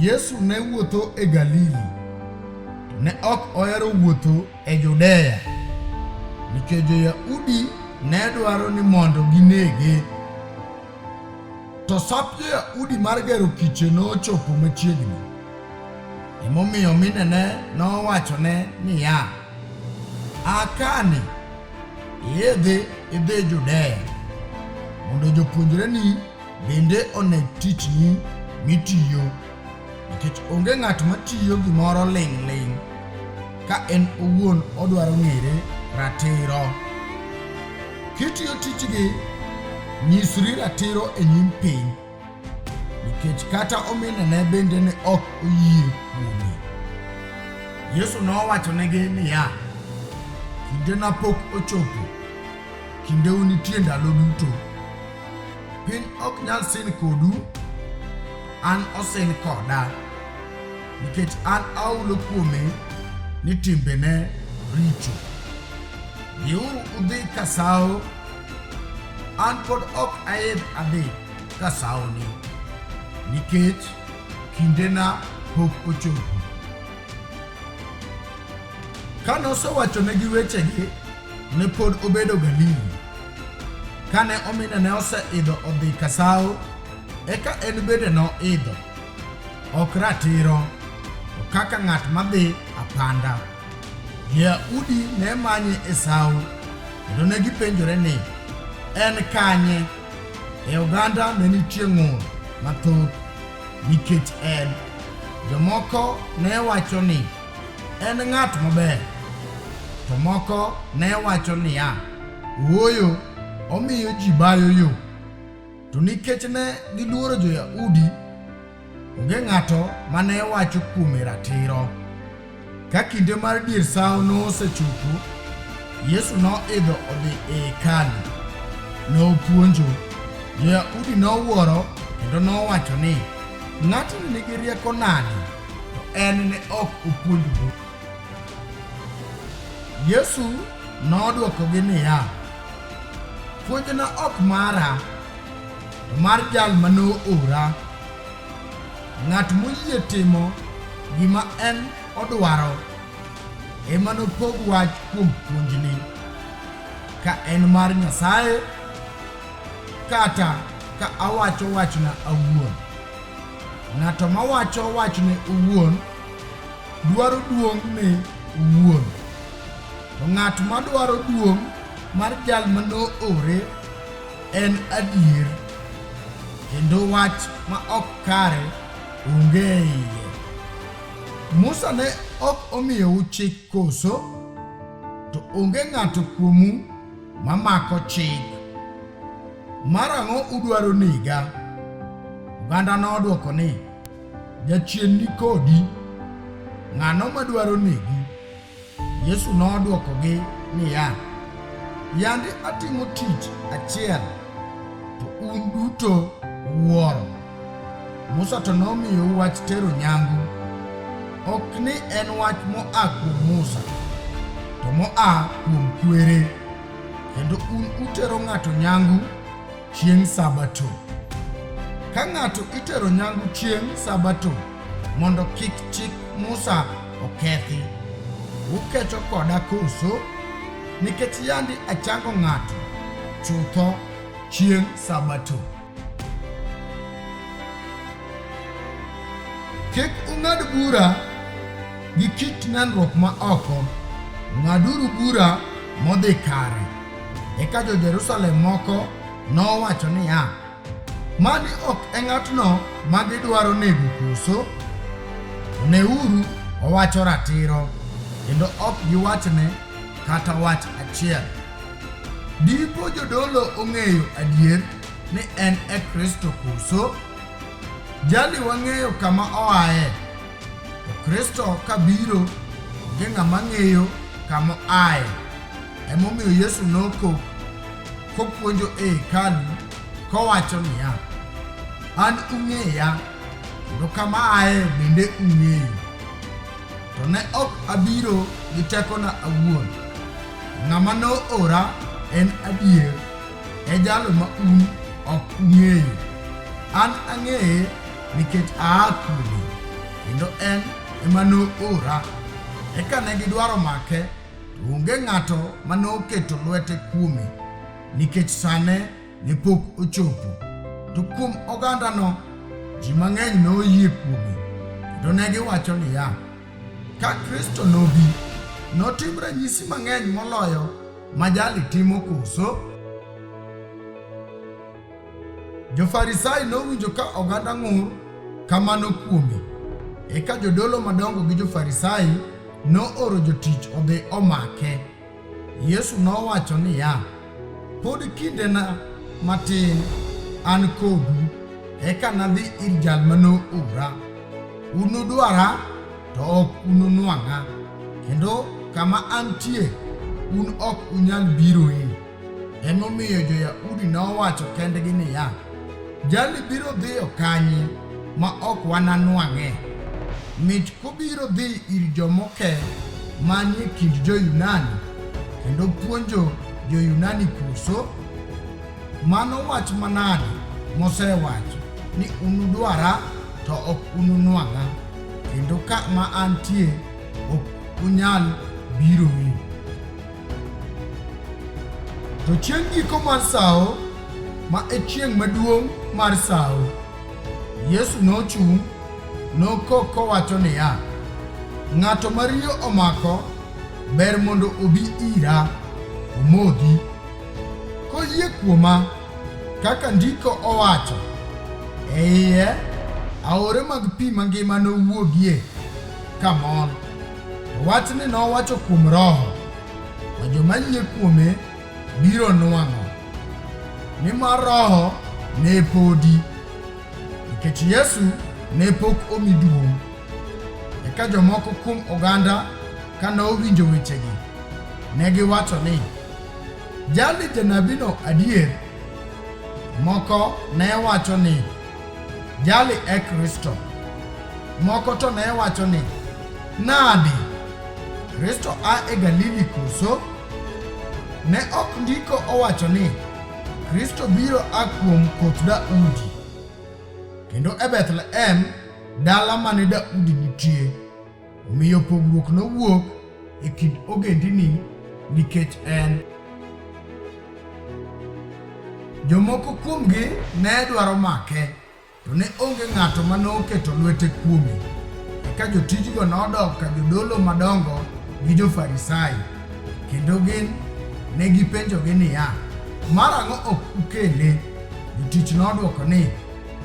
Yesu ne wuotho e Galili. Ne ok ohero wuotho e Judea nikech jo-Yahudi ne dwaro ni mondo ginege. To sap jo-Yahudi mar gero kiche nochopo machiegni. Emomiyo minene nowachone niya, A kani iidhi idhi Judea mondo jopuonjreni Bende one tichni mitiyo, nikech onge ng'at ma tiyo gimoro ling'ling' ka en owuon odwaro ng'ere ratiro. Kitiyo tijgi, nyisri ratiro e nyim piny, nikech kata ominene bende ne ok oyie kuome. Yesu nowachonegi niya, Kindena pok ochopo, kindeu nitie ndalo duto. Piny ok nyal sin kodu, an osin koda, nikech an aulo kuome ni timbene richo. Dhiuru udhi ka sawo, an pod ok aidh adhi ka sawoni, nikech kindena pok ochopo. Ka nosewachonegi wechegi, ne pod obedo Galili. Kane omine ne oseidho odhi kasawo, eka en bende noidho, ok ratiro, to kaka ng'at madhi apanda. Jo-Yahudi ne manye e sawo, kendo ne gipenjore ni, En kanye? E oganda ne nitie ng'ur mathoth nikech en. Jomoko ne wacho ni, En ng'at maber. To moko ne wacho niya, Ooyo, omiyo ji bayo yo. To nikech ne giluoro jo-Yahudi, onge ng'ato ma ne wacho kuome ratiro. Ka kinde mar dier sawo nosechopo, Yesu noidho odhi e hekalu. Nopuonjo. Jo-Yahudi nowuoro kendo nowacho ni, Ng'atni nigi rieko nade to en ne ok opuonj buk. Yesu nodwokogi niya, Puonjna ok mara, to mar jal ma noora. Ng'at moyie timo gima en odwaro ema nopog wach kuom puonjni, ka en mar Nyasaye kata ka awacho wachna awuon. Ng'ato mawacho wachne owuon dwaro duong' ne owuon, to ng'at madwaro duong' mar jal ma noore en adier, kendo wach ma ok kare onge e iye. Musa ne ok omiyou chik koso? To onge ng'ato kuomu mamako chik. Mar ang'o udwaro nega? Oganda nodwoko ni, Jachien ni kodi, ng'ano madwaro negi? Yesu nodwokogi niya, Yande atimo tich achiel, to un duto uwuoro. Musa to nomiyou wach tero nyangu, ok ni en wach moa kuom Musa, to moa kuom kwere, kendo un utero ng'ato nyangu chieng' Sabato. Ka ng'ato itero nyangu chieng' Sabato mondo kik chik Musa okethi, ukecho koda koso? Nikech yandi achango ng'ato chutho chieng' Sabato. Kik ung'ad bura gi kit nenruok ma oko, ng'aduru bura modhi kare. Eka jo-Jerusalem moko nowacho niya, Mani ok e ng'atno ma gidwaro nego koso? Neuru, owacho ratiro, kendo ok giwachne kata wach achiel. Dipo jodolo ong'eyo adier ni en e Kristo koso? Jali wang'eyo kama oaye, to Kristo kabiro onge ng'ama ng'eyo kama oaye. Emomiyo Yesu nokok kopuonjo e hekalu kowacho niya, an ung'eya kendo kama aye bende ung'eyo, to ne ok abiro gi tekona awuon, Ng'ama noora en adier, e jalo ma un ok ung'eyo. An ang'eye nikech aa kuome, kendo en ema noora. Eka ne gidwaro make, to onge ng'ato ma noketo lwete kuome, nikech sane ne pok ochopo. To kuom ogandano, ji mang'eny noyie kuome, kendo ne giwacho niya, Ka Kristo nobi, notim ranyisi mang'eny moloyo ma jali timo koso? Jo-Farisai nowinjo ka oganda ng'ur kamano kuome. Eka jodolo madongo gi Jo-Farisai nooro jotich odhi omake. Yesu nowacho niya, Pod kindena matin an kodu, eka nadhi ir jal ma noora. Unudwara, to ok ununwang'a, kendo kama antie, un ok unyal biroe. Emomiyo jo-Yahudi nowacho kendgi niya, Jali biro dhiyo kanye ma ok wananwang'e? Mich kobiro dhi ir jomoke manie kind jo-Yunani kendo puonjo jo-Yunani koso? Mano wach manade mosewacho ni unudwara to ok ununwang'a, kendo ka ma antie ok unyal biroe? To chieng' giko mar sawo, ma e chieng' maduong' mar sawo, Yesu nochung' nokok kowacho niya, Ng'ato ma riyo omako ber mondo obi ira omodhi, koyie kuoma kaka ndiko owacho, e iye aore mag pi mangima nowuogie kamol. Wachni nowacho kuom Roho, ma joma yie kuome biro nwang'o, nimar Roho ne podi, nikech Yesu ne pok omi duong'. Eka jomoko kuom oganda ka nowinjo wechegi, ne giwacho ni, Jali janabino adier. Moko ne wacho ni, Jali e Kristo. Moko to ne wacho ni, Nadi? Kristo a e Galili koso? Ne ok ndiko owacho ni, Kristo biro a kuom koth Daudi. Kendo e Bethlehem, dala mane Daudi nitie. Omiyo pogruok nowuok e kind ogendini nikech en. Jomoko kuomgi ne dwaro make, to ne onge ng'ato ma noketo lwete kuome. Eka jotijgo nodok ka jodolo madongo gi jo-Farisai, kendo gin ne gipenjogi niya, Mar ang'o ok ukele? Jotich nodwoko ni,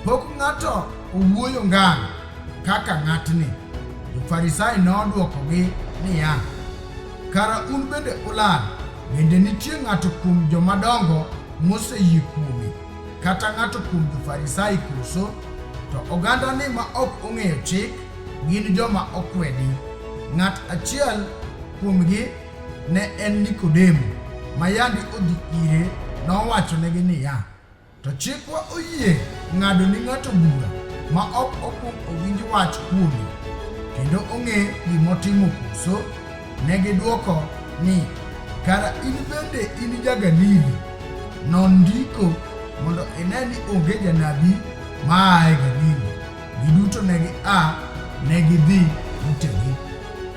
Pok ng'ato owuoyo ngang'. kaka ng'atni. Jo-Farisai nodwokogi niya, Kara un bende ulal, bende nitie ng'ato kuom jomadongo moseyie kuome, kata ng'ato kuom jo-Farisai koso? To ogandani ma ok ong'eyo chik gin joma okwedi. Ng'at achiel kuomgi ne en Nikodemo, ma yandi odhi ire, nowachonegi niya, To chikwa oyie ng'ado ni ng'ato bura ma ok okwong owinj wach kuome kendo ong'e gimotimo koso? Ne gidwoko ni, Kara in bende in ja-Galili? Non ndiko mondo ine ni onge janabi ma aa e Galili. Giduto ne gia, ne gidhi utegi.